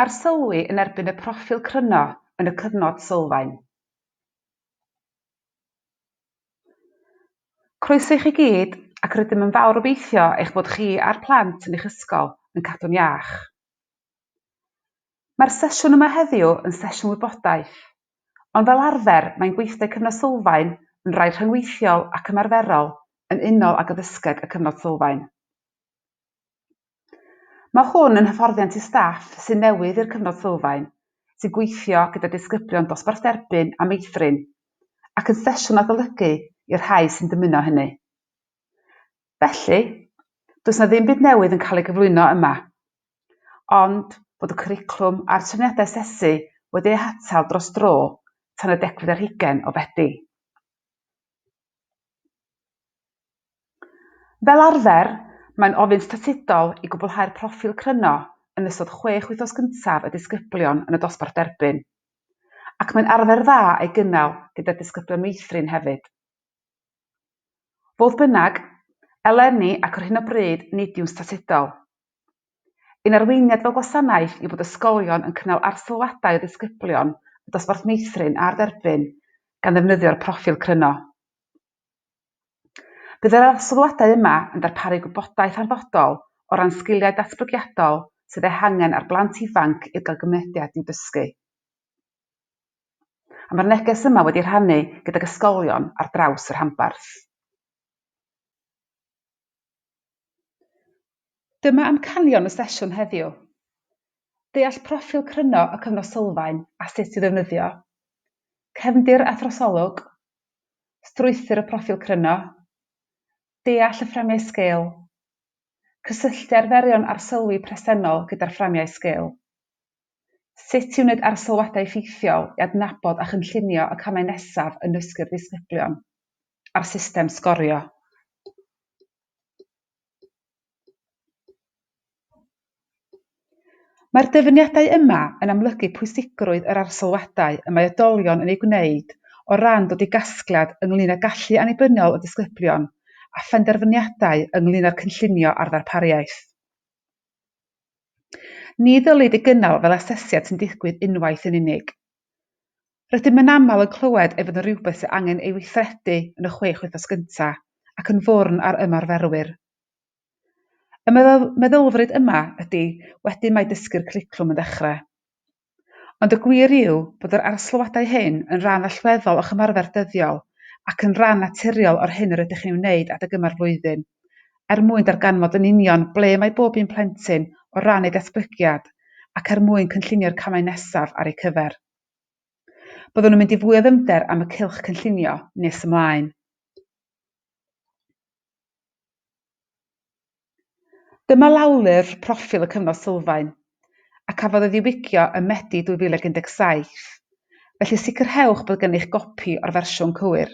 Arsylwi yn erbyn y proffil cryno yn y cyfnod sylfaen. Croeso i chi gyd ac rydym yn fawr obeithio eich bod chi a'r plant yn eich ysgol yn cadw'n iach. Mae'r sesiwn yma heddiw yn sesiwn wybodaeth, ond fel arfer mae'n gweithdai cyfnod sylfaen yn rai rhyngweithiol ac ymarferol yn unol ag addysgeg y cyfnod sylfaen. Mae hwn yn hyfforddiant i staff sydd newydd i'r cyfnod sylfaen, sy'n gweithio gyda disgyblion dosbarth derbyn a meithrin, ac yn sesiwn adolygu i'r rhai sy'n dymuno hynny. Felly, does yna ddim byd newydd yn cael ei gyflwyno yma, ond bod y cwricwlwm a'r trefniadau asesu wedi eu hatal dros dro tan y degfed ar hugain o Fedi. Fel arfer, mae'n ofyn statudol i gwblhau'r proffil cryno yn ystod chwech wythnos gyntaf y disgyblion yn y dosbarth derbyn, ac mae'n arfer dda ei gynnal gyda'r disgyblion meithrin hefyd. Fodd bynnag, eleni ac ar hyn o bryd nid yw'n statudol. Ein arweiniad fel gwasanaeth yw bod ysgolion yn cynnal arsylwadau o ddisgyblion y dosbarth meithrin a'r derbyn gan ddefnyddio'r proffil cryno. Bydd yr arsylwadau yma yn darparu gwybodaeth hanfodol o ran sgiliau datblygiadol sydd eu hangen ar blant ifanc i'r gael mynediad i'w dysgu, a mae'r neges yma wedi ei rhannu gydag ysgolion ar draws y rhanbarth. Dyma amcanion y sesiwn heddiw. Deall proffil cryno y cyfnod sylfaen a sut i ddefnyddio, cefndir a throsolwg, strwythur y proffil cryno, deall y fframiau sgil, cysylltu arferion arsylwi presennol gyda'r fframiau sgil, sut i wneud arsylwadau effeithiol i adnabod a chynllunio y camau nesaf yn nysgu'r disgyblion. a'r system sgorio. Mae'r dyfyniadau yma yn amlygu pwysigrwydd yr arsylwadau y mae oedolion yn eu gwneud o ran dod i gasgliad ynglŷn â gallu annibyniol y disgyblion a phenderfyniadau ynglŷn â'r cynllunio a'r ddarpariaeth. Ni ddylid ei gynnal fel asesiad sy'n digwydd unwaith yn unig. Rydym yn aml yn clywed ei fod yn rhywbeth sydd angen ei weithredu yn y chwech wythnos gyntaf ac yn fwrn ar ymarferwyr. Y meddylfryd yma ydy, wedyn mae dysgu'r cwricwlwm yn dechrau. Ond y gwir yw bod yr arsylwadau hyn yn rhan allweddol o'ch ymarfer dyddiol ac yn rhan naturiol o'r hyn yr ydych chi'n ei wneud adeg yma'r flwyddyn. er mwyn darganfod yn union ble mae bob un plentyn o ran eu datblygiad ac er mwyn cynllunio'r camau nesaf ar eu cyfer. Byddwn yn mynd i fwy o ddyfnder am y cylch cynllunio nes ymlaen. Dyma lawlyfr proffil y cyfnod sylfaen, a cafodd ei ddiwygio ym Medi 2017, felly sicrhewch bod gennych gopi o'r fersiwn cywir.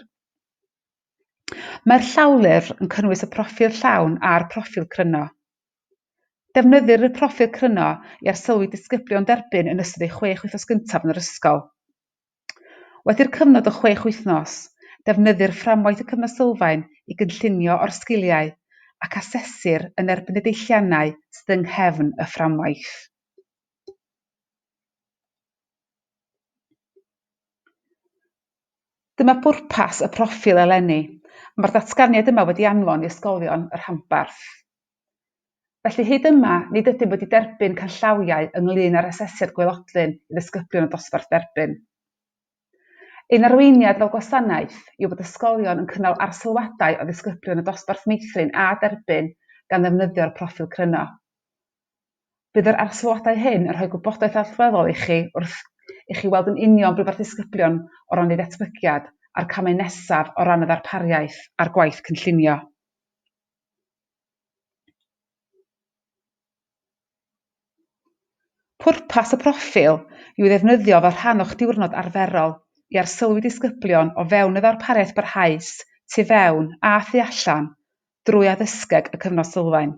Mae'r llawlyfr yn cynnwys y proffil llawn a'r proffil cryno. Defnyddir y proffil cryno i arsylwi disgyblion derbyn yn ystod eu chwech wythnos gyntaf yn yr ysgol. Wedi'r cyfnod o chwech wythnos, defnyddir fframwaith y Cyfnod Sylfaen i gynllunio o'r sgiliau ac asesir yn erbyn y deilliannau sydd yng nghefn y fframwaith. Dyma bwrpas y proffil eleni. Mae'r datganiad yma wedi anfon i ysgolion y rhanbarth. Felly hyd yma, nid ydym wedi derbyn canllawiau ynglŷn â'r asesiad gwaelodlin i ddisgyblion y dosbarth derbyn. Ein arweiniad fel gwasanaeth yw bod ysgolion yn cynnal arsylwadau o ddisgyblion y dosbarth meithrin a derbyn gan ddefnyddio'r proffil cryno. Bydd yr arsylwadau hyn yn rhoi gwybodaeth allweddol i chi wrth i chi weld yn union be mae'r disgyblion o ran eu datblygiad a'r camau nesaf o ran y ddarpariaeth a'r gwaith cynllunio. Pwrpas y proffil yw ei ddefnyddio fel rhan o'ch diwrnod arferol i arsylwi disgyblion o fewn y ddarpariaeth barhaus, tu fewn a thu allan, drwy addysgeg y Cyfnod Sylfaen.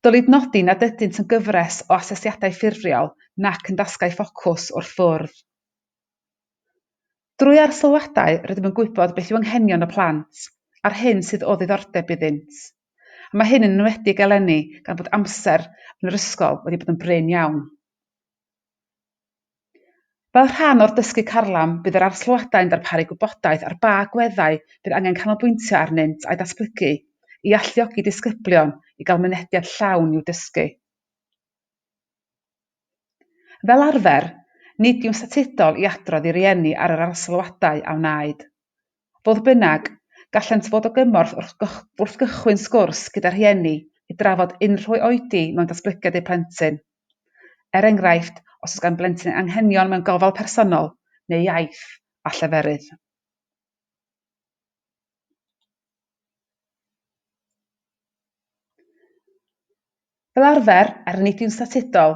Dylid nodi nad ydynt yn gyfres o asesiadau ffurfiol nac yn dasgau ffocws wrth fwrdd. Drwy arsylwadau rydym yn gwybod beth yw anghenion y plant a'r hyn sydd o ddiddordeb iddynt, a mae hyn yn enwedig eleni gan fod amser yn yr ysgol wedi bod yn brin iawn. Fel rhan o'r dysgu carlam, bydd yr arsylwadau'n darparu gwybodaeth ar ba agweddau bydd angen canolbwyntio arnynt a'u datblygu, i alluogi disgyblion i gael mynediad llawn i'w dysgu. Fel arfer, nid yw'n statudol i adrodd i rieni ar yr arsylwadau a wnaed. Fodd bynnag, gallent fod o gymorth wrth gychwyn sgwrs gyda rhieni i drafod unrhyw oedi mewn datblygiad eu plentyn. Er enghraifft, os oes gan blentyn anghenion mewn gofal personol neu iaith a lleferydd. Fel arfer, er nid yw'n statudol,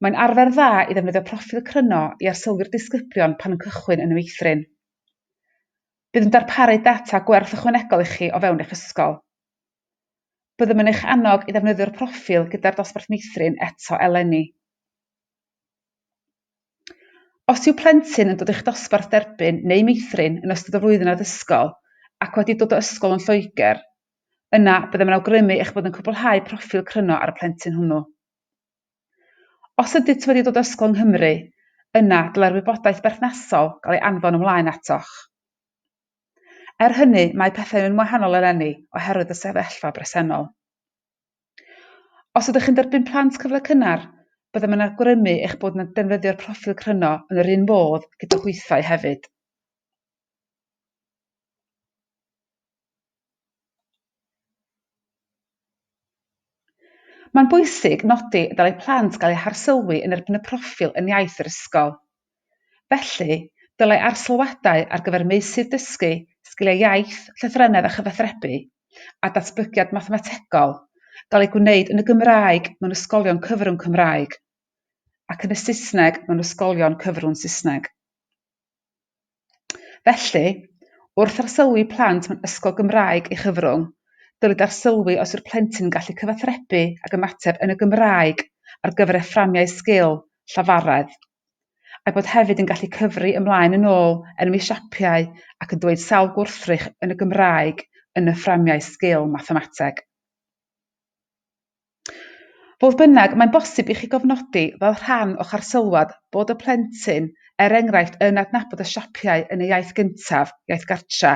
mae'n arfer dda i ddefnyddio proffil cryno i arsylwi'r disgyblion pan yn cychwyn yn y meithrin. Bydd yn darparu data gwerth ychwanegol i chi o fewn eich ysgol. Byddem yn eich annog i ddefnyddio'r proffil gyda'r dosbarth meithrin eto eleni. Os yw plentyn yn dod i'ch dosbarth derbyn neu meithrin yn ystod y flwyddyn addysgol ac wedi dod o ysgol yn Lloegr, yna byddem yn awgrymu eich bod yn cwblhau proffil cryno ar y plentyn hwnnw. Os ydynt wedi dod o ysgol yng Nghymru, yna dylai'r wybodaeth berthnasol gael ei anfon ymlaen atoch. Er hynny, mae pethau yn wahanol eleni oherwydd y sefyllfa bresennol. Os ydych yn derbyn plant cyfle cynnar, byddem yn awgrymu eich bod yn defnyddio'r proffil cryno yn yr un modd gyda hwythau hefyd. Mae'n bwysig nodi y dylai plant gael eu harsylwi yn erbyn y proffil yn iaith yr ysgol. Felly, dylai arsylwadau ar gyfer meysydd dysgu, sgiliau iaith, llythrennedd a chyfathrebu, a datblygiad mathemategol gael eu gwneud yn y Gymraeg mewn ysgolion cyfrwng Cymraeg ac yn y Saesneg mewn ysgolion cyfrwng Saesneg. Felly, wrth arsylwi plant mewn ysgol Gymraeg ei chyfrwng, dylid arsylwi os yw'r plentyn yn gallu cyfathrebu ac ymateb yn y Gymraeg ar gyfer ei fframiau sgil llafaredd, a'i bod hefyd yn gallu cyfri ymlaen yn ôl enwi siapiau ac yn dweud sawl gwrthrych yn y Gymraeg yn y fframiau sgil mathemateg. Fodd bynnag, mae'n bosib i chi gofnodi fel rhan o'ch arsylwad bod y plentyn, er enghraifft, yn adnabod y siapiau yn ei iaith gyntaf, iaith gartra,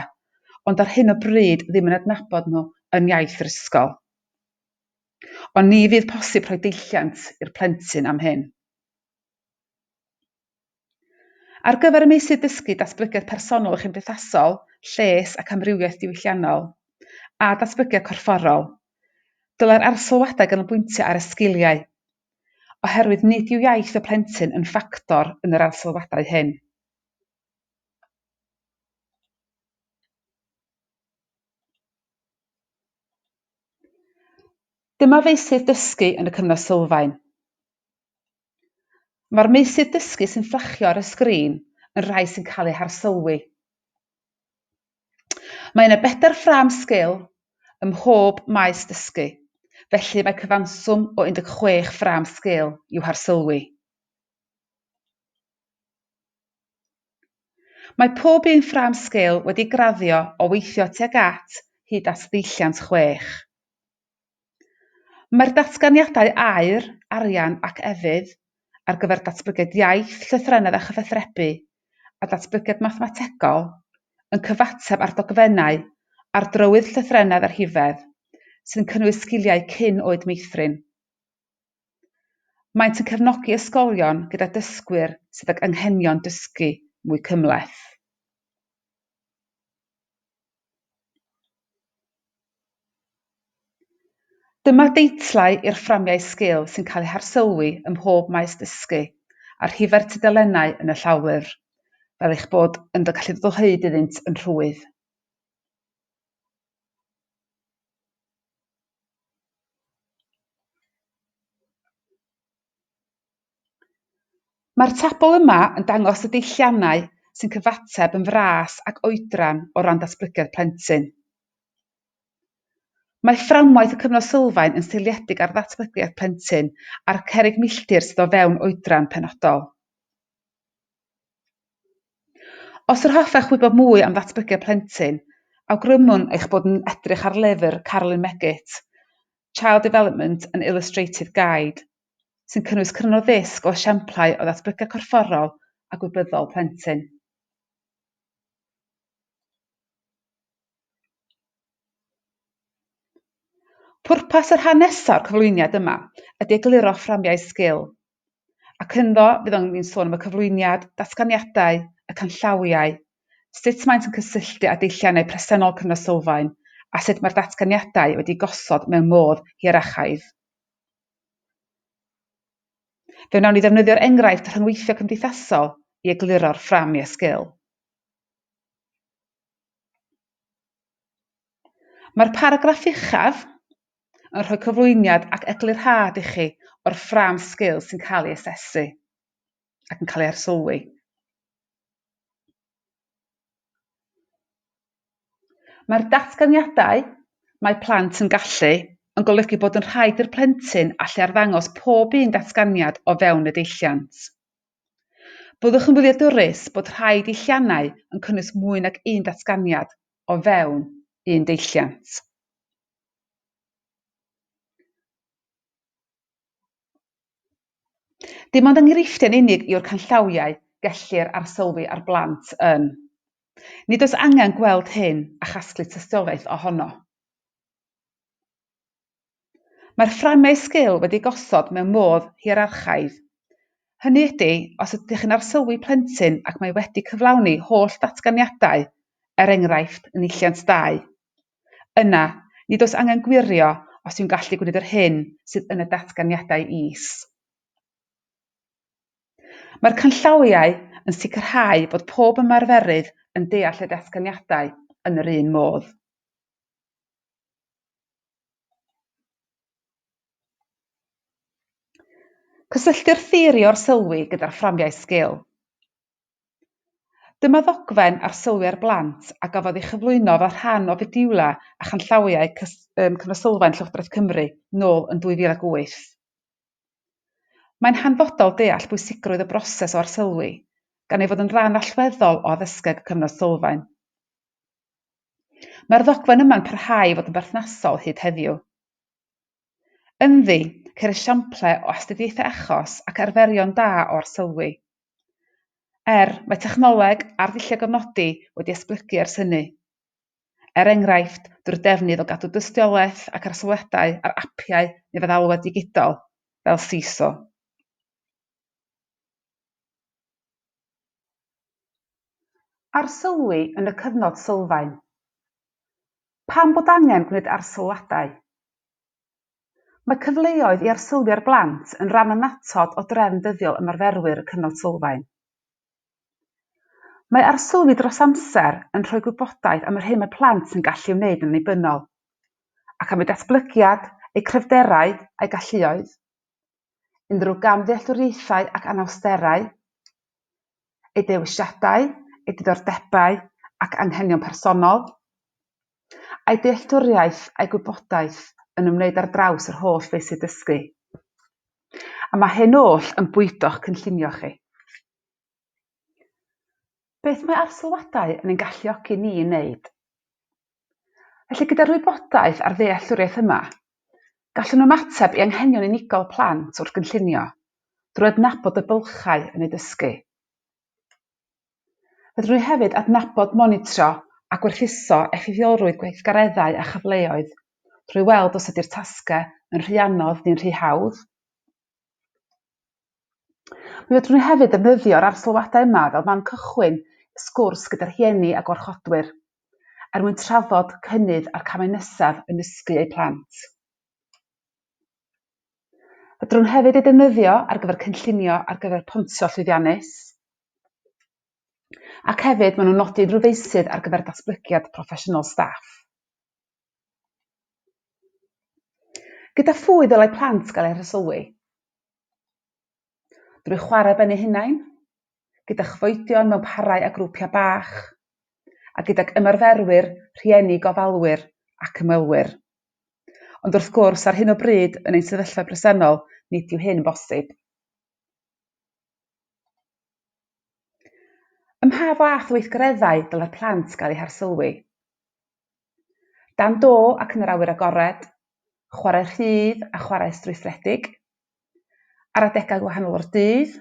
ond ar hyn o bryd ddim yn adnabod nhw yn iaith yr ysgol. Ond ni fydd posib rhoi deilliant i'r plentyn am hyn. Ar gyfer y meysydd dysgu, datblygiad personol a chymdeithasol, lles ac amrywiaeth diwylliannol, a datblygiad corfforol, dylai'r arsylwadau ganolbwyntio ar y sgiliau, oherwydd nid yw iaith y plentyn yn ffactor yn yr arsylwadau hyn. Dyma feysydd dysgu yn y cyfnod sylfaen. Mae'r meysydd dysgu sy'n fflachio ar y sgrin yn rhai sy'n cael eu harsylwi. Mae yna bedair ffrâm sgil ym mhob maes dysgu, felly mae cyfanswm o 16 ffrâm sgil i'w harsylwi. Mae pob un ffrâm sgil wedi graddio o weithio tuag at hyd at ddeilliant chwech. Mae'r datganiadau aer, arian ac efydd ar gyfer datblygiad iaith, llythrennedd a chyfathrebu, a datblygiad mathemategol, yn cyfateb â'r dogfennau ar drywydd llythrennedd a rhifedd, sy'n cynnwys sgiliau cyn oed meithrin. Maent yn cefnogi ysgolion gyda dysgwyr sydd ag anghenion dysgu mwy cymhleth. Dyma deitlau i'r fframiau sgil sy'n cael eu harsylwi ym mhob maes dysgu, a rhifau'r tudalennau yn y llawlyfr, fel eich bod yn gallu dod o hyd iddynt yn rhwydd. Mae'r tabl yma yn dangos y deilliannau sy'n cyfateb yn fras ac oedran o ran datblygiad plentyn. Mae fframwaith y cyfnod sylfaen yn seiliedig ar ddatblygiad plentyn a'r cerrig milltir sydd o fewn oedran penodol. Os yr hoffech wybod mwy am ddatblygiad plentyn, awgrymwn eich bod yn edrych ar lyfr Carolyn Meggett, Child Development, An Illustrated Guide, sy'n cynnwys cryn o ddisg o esiamplau o ddatblygiad corfforol a gwybyddol plentyn. Pwrpas y rhan nesaf o'r cyflwyniad yma ydy egluro fframiau sgil, ac ynddo fydd o'n ni'n sôn am y cyflwyniad, datganiadau, y canllawiau, sut maent yn cysylltu â deilliannau presennol Cyngor Sylfaen a sut mae'r datganiadau wedi gosod mewn modd hierarchaidd. Fe wnawn ni ddefnyddio'r enghraifft rhyngweithio cymdeithasol i egluro'r ffram i esgyl. Mae'r paragraff uchaf, yn rhoi cyflwyniad ac eglurhad i chi o'r ffrâm sgil sy'n cael ei asesu ac yn cael ei arsylwi. Mae'r datganiadau Mae plant yn gallu yn golygu bod yn rhaid i'r plentyn allu arddangos pob un datganiad o fewn y deilliant. Byddwch yn wyliadwrus bod rhai deilliannau yn cynnwys mwy nag un datganiad o fewn un deilliant. Dim ond enghreifftiau yn unig yw'r canllawiau gellir arsylwi ar blant yn. Nid oes angen gweld hyn a chasglu tystiolaeth ohono. Mae'r fframau sgil wedi gosod mewn modd hierarchaidd. Hynny ydy, os ydych chi'n arsylwi plentyn ac mae wedi cyflawni holl datganiadau, er enghraifft, yn Eilliant 2, Yna, nid oes angen gwirio os yw'n gallu gwneud yr hyn sydd yn y datganiadau is. Mae'r canllawiau yn sicrhau bod pob ymarferydd yn deall y datganiadau yn yr un modd. Cysylltu'r theori orsylwi gyda'r fframiau sgil. Dyma ddogfen arsylwiau'r blant a gafodd ei chyflwyno fel rhan o fediwlau a chanllawiau Cyfansoddlen Llywodraeth Cymru nôl yn 2008. Mae'n hanfodol deall bwysigrwydd y broses o arsylwi, gan ei fod yn ran allweddol o addysgeg y Cyfansoddlen. Mae'r ddogfen yma'n parhau i fod yn berthnasol hyd heddiw. Ynddi, ceir esiamplau o astudiaethau achos ac arferion da o arsylwi. Er, mae technoleg ar ddulliau gofnodi wedi esblygu ers hynny. Er enghraifft, drwy'r defnydd o gadw dystiolaeth ac arsylwiadau ar apiau neu feddalwedd digidol, fel Seesaw. Arsylwi yn y cyfnod sylfaen. Pam bod angen gwneud arsylwadau? Mae cyfleoedd i arsylwio'r blant yn rhan annatod o drefn dyddiol ymarferwyr y Cyfnod Sylfaen. Mae arsylwi dros amser yn rhoi gwybodaeth am yr hyn mae plant yn gallu ei wneud yn annibynnol, ac am eu datblygiad, eu cryfderau, a'u galluoedd. unrhyw gamddealltwriaethau ac anawsterau, ei dewisiadau, ei diddordebau ac anghenion personol, a'i dealltwriaeth a'i gwybodaeth yn ymwneud ar draws yr holl feysydd dysgu, a mae hyn oll yn bwydo'ch cynllunio chi. Beth mae arsylwadau yn ein galluogi ni i wneud? Felly, gyda'r wybodaeth a'r ddealltwriaeth yma, gallwn ymateb i anghenion unigol plant wrth gynllunio, drwy adnabod y bylchau yn eu dysgu. Fedrwn ni hefyd adnabod, monitro a gwerthuso effeithiolrwydd gweithgareddau a chyfleoedd drwy weld os ydy'r tasgau yn rhy anodd neu'n rhy hawdd, Mi fedrwn ni hefyd ddefnyddio'r arsylwadau yma fel man cychwyn sgwrs gyda rhieni a gwarchodwyr er mwyn trafod cynnydd a'r camau nesaf yn nysgu eu plant. Fedrwn hefyd ei defnyddio ar gyfer cynllunio ar gyfer pontio llwyddiannus ac hefyd maen nhw'n nodi unrhyw feysydd ar gyfer datblygiad proffesiynol staff. Gyda phwy ddylai plant gael eu hresylwi? Drwy chwarae ben eu hunain, gyda chyfoedion mewn parau a grwpiau bach, a gydag ymarferwyr, rhieni, gofalwyr ac ymwelwyr. Ond wrth gwrs, ar hyn o bryd, yn ein sefyllfa bresennol, nid yw hyn bosib. Ym mha fath o weithgareddau dylai'r plant gael eu harsylwi? Dan do ac yn yr awyr agored, chwarae rhydd a chwarae strwythuredig. Ar adegau gwahanol o'r dydd,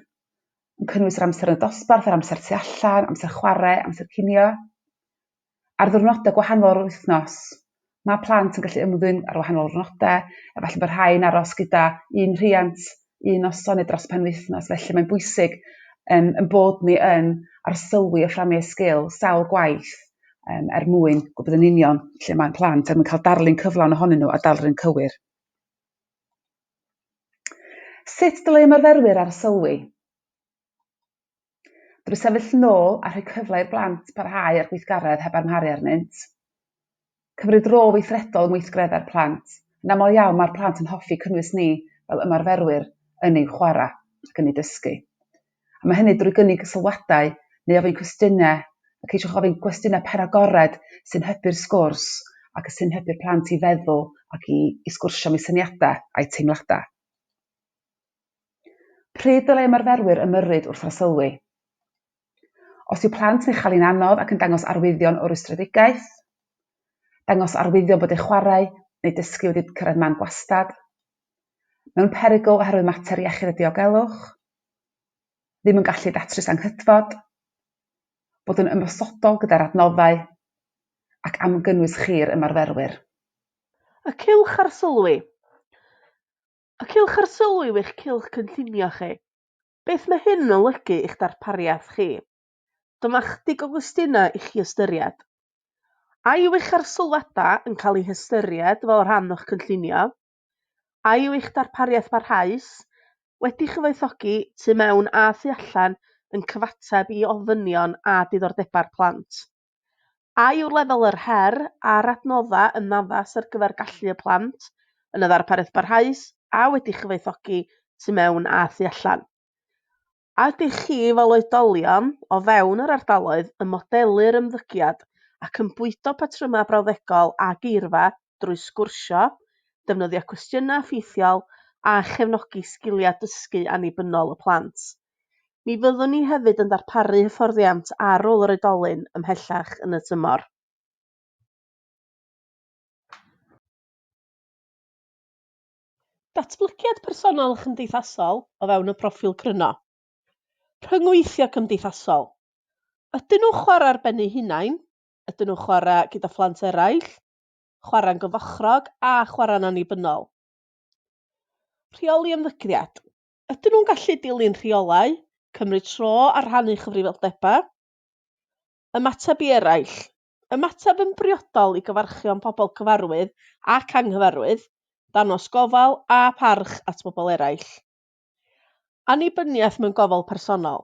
yn cynnwys yr amser yn y dosbarth, yr amser tu allan, amser chwarae, amser cinio. Ar ddiwrnodau gwahanol o'r wythnos, mae plant yn gallu ymddwyn ar wahanol ddiwrnodau, efallai bod rhai'n aros gyda un rhiant un noson neu dros penwythnos felly mae'n bwysig um, yn bod ni yn arsylwi a fframio sgil sawl gwaith um, er mwyn gwybod yn union lle mae'n plant er mwyn cael darlun cyflawn ohonyn nhw a darlun cywir. Sut dylai ymarferwyr arsylwi? drwy sefyll yn ôl a rhoi cyfle i'r blant barhau â'r gweithgaredd heb amharu arnynt. Cymryd rôl weithredol yn weithgreddau'r plant. Yn aml iawn mae'r plant yn hoffi cynnwys ni fel ymarferwyr yn eu chwarae ac yn eu dysgu. A mae hynny drwy gynnig sylwadau neu ofyn cwestiynau a ceisiwch ofyn gwestiynau penagored sy'n hybu'r sgwrs ac sy'n hybu'r plant i feddwl ac i, i sgwrsio am eu syniadau a'u teimladau. Pryd dylai ymarferwyr ymyrryd wrth arsylwi? Os yw plant yn ei chael hi'n anodd ac yn dangos arwyddion o rwystredigaeth, dangos arwyddion bod eu chwarae neu dysgu wedi cyrraedd man gwastad, mewn perygl oherwydd mater iechyd a diogelwch, ddim yn gallu datrys anghydfod, bod yn ymosodol gyda'r adnoddau, ac am gynnwys chi'r ymarferwyr. Y cylch arsylwi. A cewch arsylwi i'w eich cylch cynllunio chi. Beth mae hyn yn olygu i'ch darpariaeth chi? Dyma ychydig o gwestiynau i chi ystyried. A yw eich arsylwadau yn cael eu hystyried fel rhan o'ch cynllunio? A yw eich darpariaeth barhaus, wedi chyfoethogi tu mewn a thu allan, yn cyfateb i ofynion a diddordebau'r plant? A yw lefel yr her a'r adnoddau yn addas ar gyfer gallu y plant yn y ddarpariaeth barhaus a wedi chyfoethogi tu mewn a thu allan? A ydych chi, fel oedolion o fewn yr ardaloedd, yn modelu'r ymddygiad ac yn bwydo patrymau brawddegol a geirfa drwy sgwrsio, defnyddio cwestiynau effeithiol a chefnogi sgiliau dysgu annibynnol y plant. Mi fyddwn ni hefyd yn darparu hyfforddiant ar ôl yr oedolyn ymhellach yn y tymor. Datblygiad personol a chymdeithasol o fewn y proffil cryno. Rhyngweithio cymdeithasol. Ydyn nhw'n chwarae ar ben eu hunain? Ydyn nhw'n chwarae gyda phlant eraill? chwarae'n gyfochrog a chwarae'n annibynnol. Rheoli ymddygiad. Ydyn nhw'n gallu dilyn rheolau, cymryd tro a rhannu cyfrifoldebau? Ymateb i eraill. Ymateb yn briodol i gyfarchion pobl cyfarwydd ac anghyfarwydd, dangos gofal a pharch at bobl eraill. Annibyniaeth mewn gofal personol,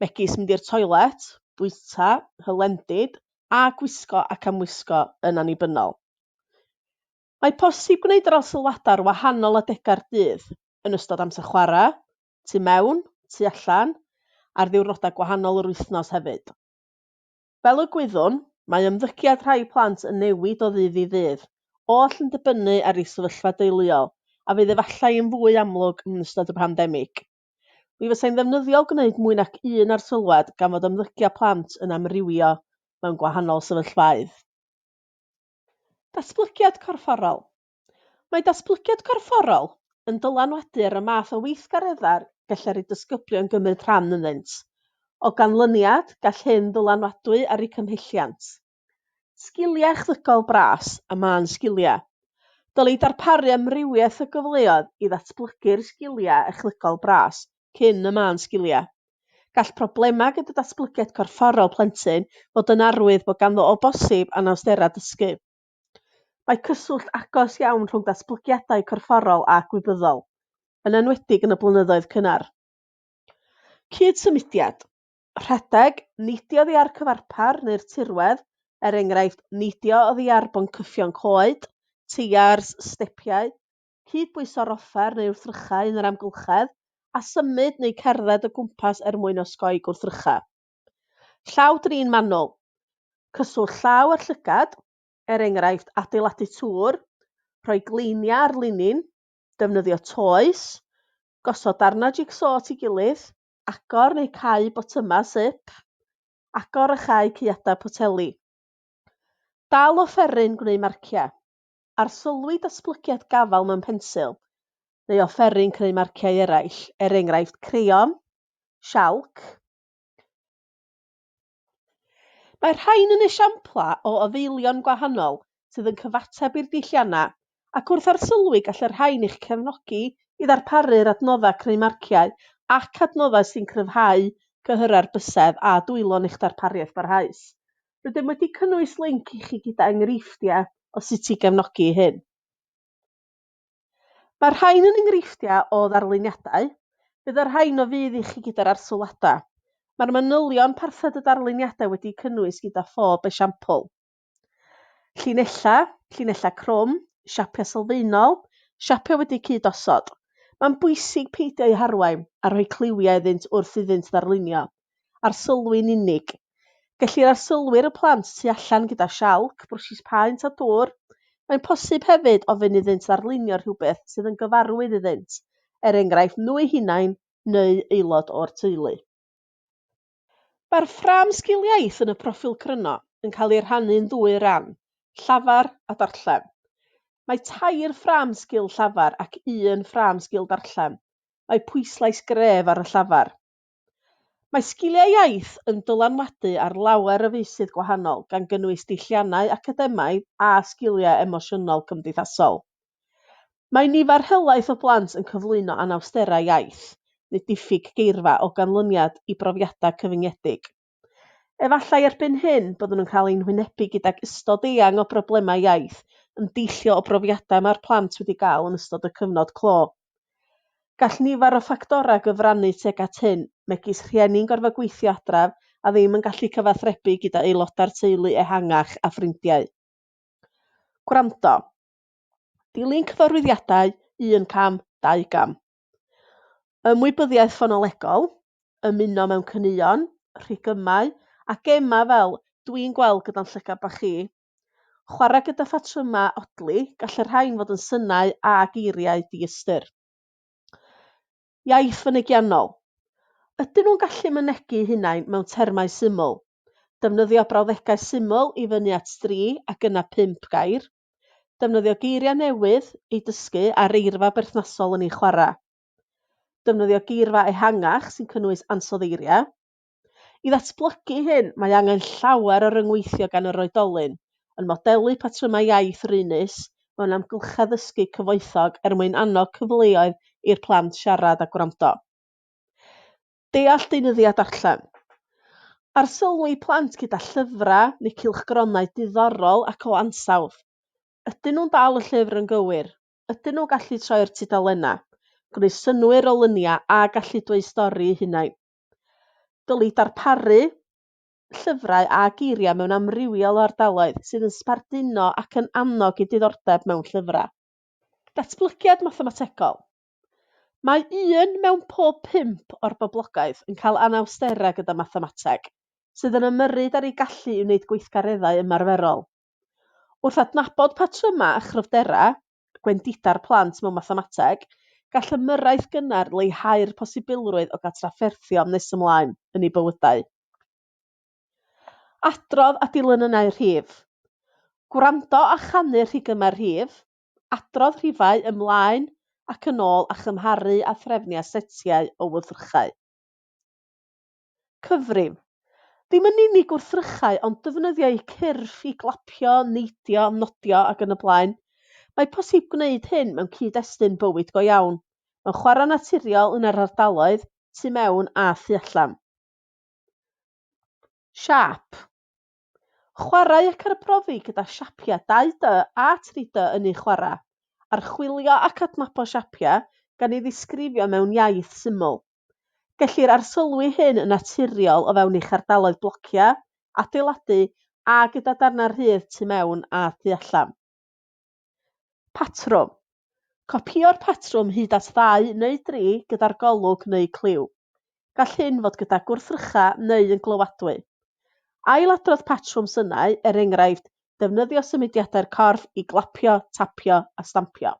megis mynd i'r toilet, bwyta, hylendid a gwisgo ac amwisgo yn annibynnol. Mae posib gwneud yr alsylwadau ar wahanol adegau'r dydd, yn ystod amser chwarae, tu mewn, tu allan, ar ddiwrnodau gwahanol yr wythnos hefyd. Fel y gwyddwn, mae ymddygiad rhai plant yn newid o ddydd i ddydd, oll yn dibynnu ar eu sefyllfa deuluol, a fydd efallai yn fwy amlwg yn ystod y pandemig. Mi fysai'n ddefnyddiol gwneud mwy nac un arsylwad gan fod ymddygiad plant yn amrywio mewn gwahanol sefyllfaoedd. Datblygiad corfforol. Mae datblygiad corfforol yn dylanwaduar y math o weithgareddau gellir i dysgyblion gymryd rhan ynddynt. O ganlyniad, gall hyn ddylanwadwy ar eu cymhelliant. Sgiliau echddygol bras a mân sgiliau. Dylid darparu amrywiaeth o gyfleoedd i ddatblygu'r sgiliau echddygol bras cyn y mân sgiliau. Gall problemau gyda datblygiad corfforol plentyn fod yn arwydd bod ganddo o bosib anawsterau dysgu. Mae cyswllt agos iawn rhwng datblygiadau corfforol a gwybyddol, yn enwedig yn y blynyddoedd cynnar. Cyd-symudiad, rhedeg, neidio oddi ar cyfarpar neu'r tirwedd, er enghraifft, neidio oddi ar boncyffion coed, teiars, stepiau, cyd-bwyso'r offer neu wrthrychau yn yr amgylchedd, a symud neu cerdded o gwmpas er mwyn osgoi gwrthrychau. Llaw drin manwl, cyswllt llaw â'r llygad, er enghraifft adeiladu tŵr, rhoi gleiniau ar linyn, defnyddio toes, gosod darnau jig-so at ei gilydd, agor neu cau botymau sip, agor a chau caeadau poteli. Dal offeryn gwneud marciau. Arsylwi datblygiad gafael mewn pensil neu offeryn creu marciau eraill, er enghraifft creion, sialc, Mae'r rhain yn esiamplau o addeilion gwahanol sydd yn cyfateb i'r dulliannau, ac wrth arsylwi gall y rhain eich cefnogi i ddarparu'r adnoddau creu marciau ac adnoddau sy'n cryfhau cyhyrau'r bysedd a dwylo'n eich darpariaeth barhaus. Rydym wedi cynnwys linc i chi gyda enghreifftiau o sut i gefnogi hyn. Mae'r rhain yn enghreifftiau o ddarluniadau, bydd y rhain o fudd i chi gyda'r arsylwadau. Mae'r manylion parthed y darluniadau wedi'u cynnwys gyda phob esiampl. Llinellau, llinellau crwm, siapiau sylfaenol, siapiau wedi'u cyd-osod. Mae'n bwysig peidio â'u harwain a rhoi cliwiau iddynt wrth iddynt ddarlunio, arsylwi'n unig. Gellir arsylwi ar y plant tu allan gyda sialc, brwshis paent a dwr. Mae'n posib hefyd ofyn iddynt ddarlunio rhywbeth sydd yn gyfarwydd iddynt, er enghraifft nhw eu hunain neu aelod o'r teulu. Mae'r ffrâm sgil iaith yn y proffil cryno yn cael ei rhannu'n ddwy ran, llafar a darllen. Mae tair ffrâm sgil llafar ac un ffrâm sgil darllen. Mae pwyslais gref ar y llafar. Mae sgiliau iaith yn dylanwadu ar lawer o feysydd gwahanol, gan gynnwys diwylliannau, academaidd a sgiliau emosiynol cymdeithasol. Mae nifer helaeth o blant yn cyflwyno anawsterau iaith, neu diffyg geirfa o ganlyniad i brofiadau cyfyngedig. Efallai erbyn hyn byddwn yn cael ein hwynebu gydag ystod eang o broblemau iaith yn deillio o brofiadau mae'r plant wedi gael yn ystod y cyfnod clo. Gall nifer o ffactorau gyfrannu tuag at hyn, megis rhieni'n gorfod gweithio adref a ddim yn gallu cyfathrebu gyda aelodau'r teulu ehangach a ffrindiau. Gwrando. Dilyn cyfarwyddiadau, un cam, dau gam. Ymwybyddiaeth ffonolegol, ymuno mewn caneuon, rhigymau a gemau fel Dwi'n gweld gyda'n llygad bach chi. Chwarae gyda phatrymau odli, gall y rhain fod yn synau a geiriau diystyr. Iaith fynegiannol, ydyn nhw'n gallu mynegi'u hunain mewn termau syml? Defnyddio brawddegau syml i fyny at dri ac yna pump gair. Defnyddio geiriau newydd i dysgu a'r eirfa berthnasol yn ei chwarae. Defnyddio geirfa ehangach sy'n cynnwys ansoddeiriau. I ddatblygu hyn, mae angen llawer o ryngweithio gan yr oedolyn, yn modelu patrymau iaith raenus mewn amgylchedd ddysgu cyfoethog er mwyn annog cyfleoedd i'r plant siarad a gwrando. Deall deunyddiau darllen. Arsylwi plant gyda llyfrau neu cylchgronau diddorol ac o ansawdd. Ydyn nhw'n dal y llyfr yn gywir? Ydyn nhw'n gallu troi'r tudalennau? Gwneud synnwyr o luniau a gallu dweud stori eu hunain. Dylid darparu llyfrau a geiriau mewn amrywiol o ardaloedd sydd yn sbarduno ac yn annog i diddordeb mewn llyfrau. Datblygiad mathemategol. Mae un mewn pob pump o'r boblogaeth yn cael anawsterau gyda mathemateg, sydd yn ymyrryd ar eu gallu i wneud gweithgareddau ymarferol. Wrth adnabod patrymau a chryfderau, gwendida'r plant mewn mathemateg, gall ymyrraeth gynnar leihau'r posibilrwydd o gael trafferthion nes ymlaen yn eu bywydau. Adrodd a dilynynau rhif. Gwrando a chanu'r rhigymau rhif, adrodd rhifau ymlaen ac yn ôl a chymharu â threfniau setiau o wrthrychau. Cyfrif, Ddim yn unig wrthrychau ond defnyddio eu cyrff i glapio, neidio, nodio ac yn y blaen. Mae posib gwneud hyn mewn cyd-destun bywyd go iawn, mewn chwarae naturiol yn yr ardaloedd, tu mewn a thu allan. Siâp, Chwarae ac arbrofi gyda siapiau 2D a 3D yn eu chwarae. Archwilio ac adnabod siapiau gan ei ddisgrifio mewn iaith syml. Gellir arsylwi hyn yn naturiol o fewn eich ardaloedd blociau, adeiladu a gyda darnau rhydd tu mewn a thu allan. Patrwm, Copïo'r patrwm hyd at ddau neu dri gyda'r golwg neu cliw. Gall hyn fod gyda gwrthrycha neu yn glywadwy. Ailadrodd patrwm synau, er enghraifft, defnyddio symudiadau'r corff i glapio, tapio a stampio.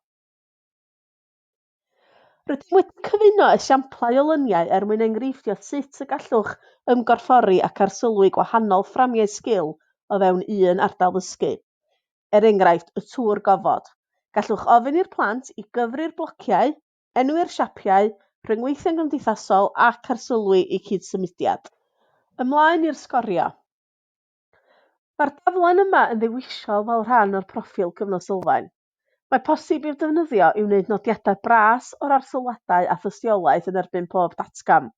Rydym wedi cyfuno esiamplau o luniau er mwyn enghreiffio sut y gallwch ymgorffori ac arsylwi gwahanol fframiau sgil o fewn un ardal ddysgu. Er enghraifft, y tŵr gofod. Gallwch ofyn i'r plant i gyfri'r blociau, enwi'r siapiau, rhyngweithio'n gymdeithasol ac arsylwi i cyd-symudiad. Ymlaen i'r sgorio. Mae'r daflen yma yn ddewisol fel rhan o'r proffil Cyfnod Sylfaen. Mae posib i'w defnyddio i wneud nodiadau bras o'r arsylwadau a thystiolaeth yn erbyn pob datgan.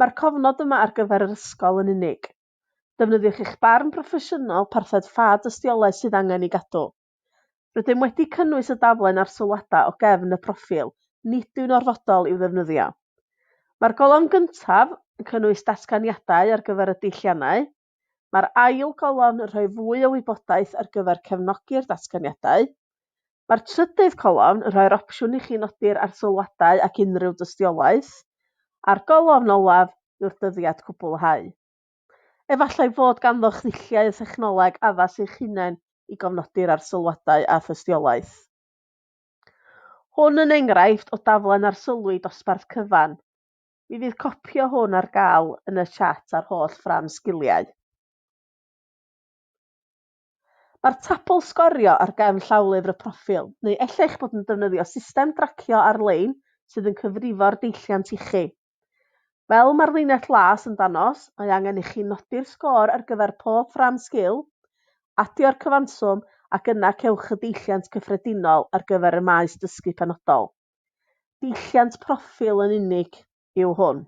Mae'r cofnod yma ar gyfer yr ysgol yn unig. Defnyddiwch eich barn broffesiynol parthed ffa dystiolaeth sydd angen ei gadw. Rydym wedi cynnwys y daflen a'r sylwadau o gefn y proffil, nid yw'n orfodol i'w ddefnyddio. Mae'r golofn gyntaf yn cynnwys datganiadau ar gyfer y deilliannau. Mae'r ail golofn yn rhoi fwy o wybodaeth ar gyfer cefnogi'r datganiadau. Mae'r trydydd colofn yn rhoi'r opsiwn i chi nodi'r arsylwadau ac unrhyw dystiolaeth. A'r golofn olaf yw'r dyddiad cwblhau. Efallai fod ganddoch ddulliau thechnoleg addas eich hunain i gofnodi'r arsylwadau a thystiolaeth. Hwn yn enghraifft o daflen arsylwi dosbarth cyfan. Mi fydd copi o hwn ar gael yn y chat a'r holl fran sgiliau. Mae'r tabl sgorio ar gefn llawlyfr y proffil, neu ella'ch bod yn defnyddio system dracio ar-lein sydd yn cyfrifo'r deilliant ichi. Fel mae'r linell las yn dangos, mae angen i chi nodi'r sgôr ar gyfer pob ffrâm sgil, adio'r cyfanswm ac yna cewch y deilliant cyffredinol ar gyfer y maes dysgu penodol. Deilliant proffil yn unig yw hwn.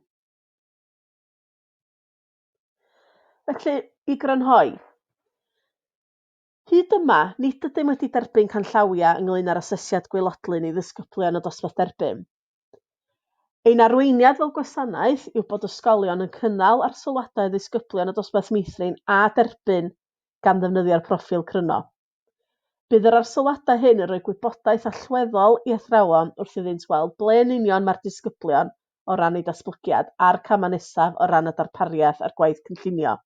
Felly, i grynhoi, hyd yma, nid ydym wedi derbyn canllawiau ynglŷn â'r asesiad gwaelodlin i ddisgyblion o dosbarth derbyn. Ein arweiniad fel gwasanaeth yw bod ysgolion yn cynnal arsylwadau ddisgyblion y dosbarth meithrin a derbyn gan ddefnyddio'r proffil cryno. Bydd yr arsylwadau hyn yn rhoi gwybodaeth allweddol i athrawon wrth iddynt weld ble yn union mae'r disgyblion o ran eu datblygiad a'r camau nesaf o ran y darpariaeth a'r gwaith cynllunio.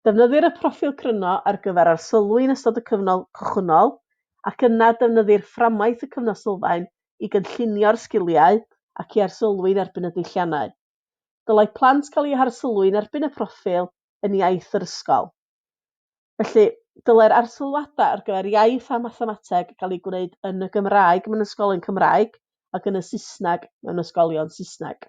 Defnyddir y proffil cryno ar gyfer arsylwi yn ystod y cyfnod cychwynnol ac yna defnyddir fframwaith y cyfnod sylfaen i gynllunio'r sgiliau ac i arsylwi yn erbyn y deilliannau. Dylai plant cael eu harsylwi yn erbyn y proffil yn iaith yr ysgol. Felly, dylai'r arsylwadau ar gyfer iaith a mathemateg gael eu gwneud yn y Gymraeg mewn ysgolion Cymraeg ac yn y Saesneg mewn ysgolion Saesneg.